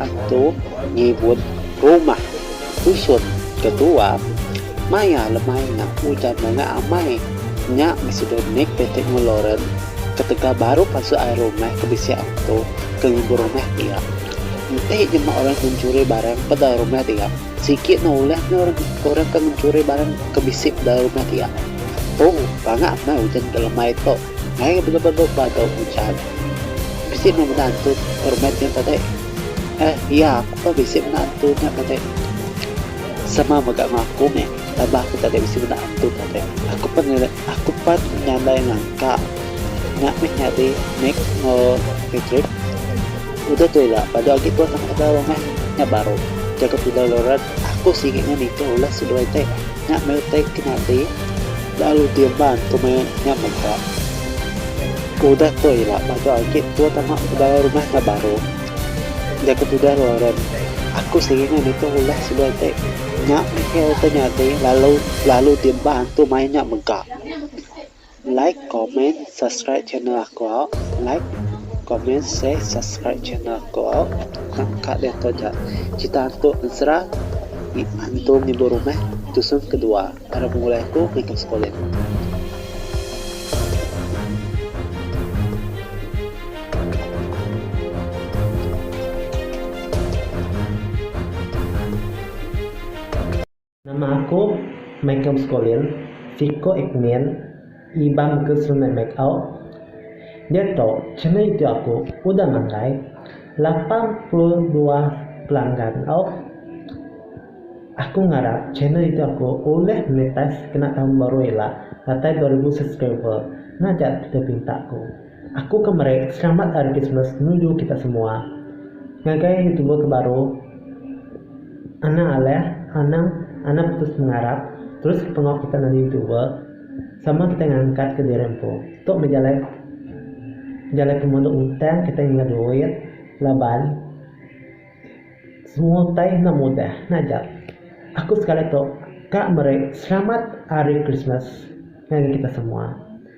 Atu ngibut rumah kusut ke tua maya lemai nya ujan mega amai nya bisi dua mit piti nguluran ketegal baru pansut ai rumah ke bisi atu ke ngibut rumah dia enti nyema orang ke mencuri barang ke dalam rumah dia sigi ne ulah orang ke mencuri barang ke bisi dalam rumah dia tu banga angai ujan ke lemai tu. Mai ga bela berdok ba tau pucat. Bisi meh benda antu permit nya tadi. Eh, iya aku pun bisi benda antu nya tadi. Sama mega enggau aku meh, tambah aku tadi bisi benda antu tadi. Aku pan aku pan nyandai ngangka. Nya meh nyadi Nick enggau Patrick. Udah tu ila padu agi tuan amat dau meh. Nya baru. Jaku Pidaloran, aku sigi ngan ika ulah seduai ti. Nya meretek ke nya ti. Lalu Dirman tu meh nya mega. Ke udah tua ila baka agi tua tama bedau rumah enggau baru. Enda ke tudah Lauren. Aku seringai nitih ulah semua ti. Nya meh ke utai nya ti lalu lalu Dirman tu meh nya mega. Like comment subscribe channel aku au like comment share subscribe channel aku au nangka diatu ja cerita hantu ensera hantu ngibur rumah tusun kedua ira pengulai aku Michael Spolin. Nama aku Michael Skolin, siko Ekmin Iban Bukit Sungai Mekau. Diatu channel youtube aku udah makai lapan puluh dua pelanggan au. Aku ngarap channel youtube aku ulih monetize kena tahun baru ila datai dua ribu subscriber. Nah ja tau pinta ku. Aku ke meri selamat hari Christmas nuju kita semua. Ngagai anu tua ke baru anang alih anang anang putus pengarap terus ke pengawa kita nadi tua sama kita ngangkat ke diri empu tu meh jalai jalai pemadu ntang kita ngingat duit laban semua utai enda mudah nya ja. Aku sekali tu ka meri selamat hari Christmas ngagai kita semua.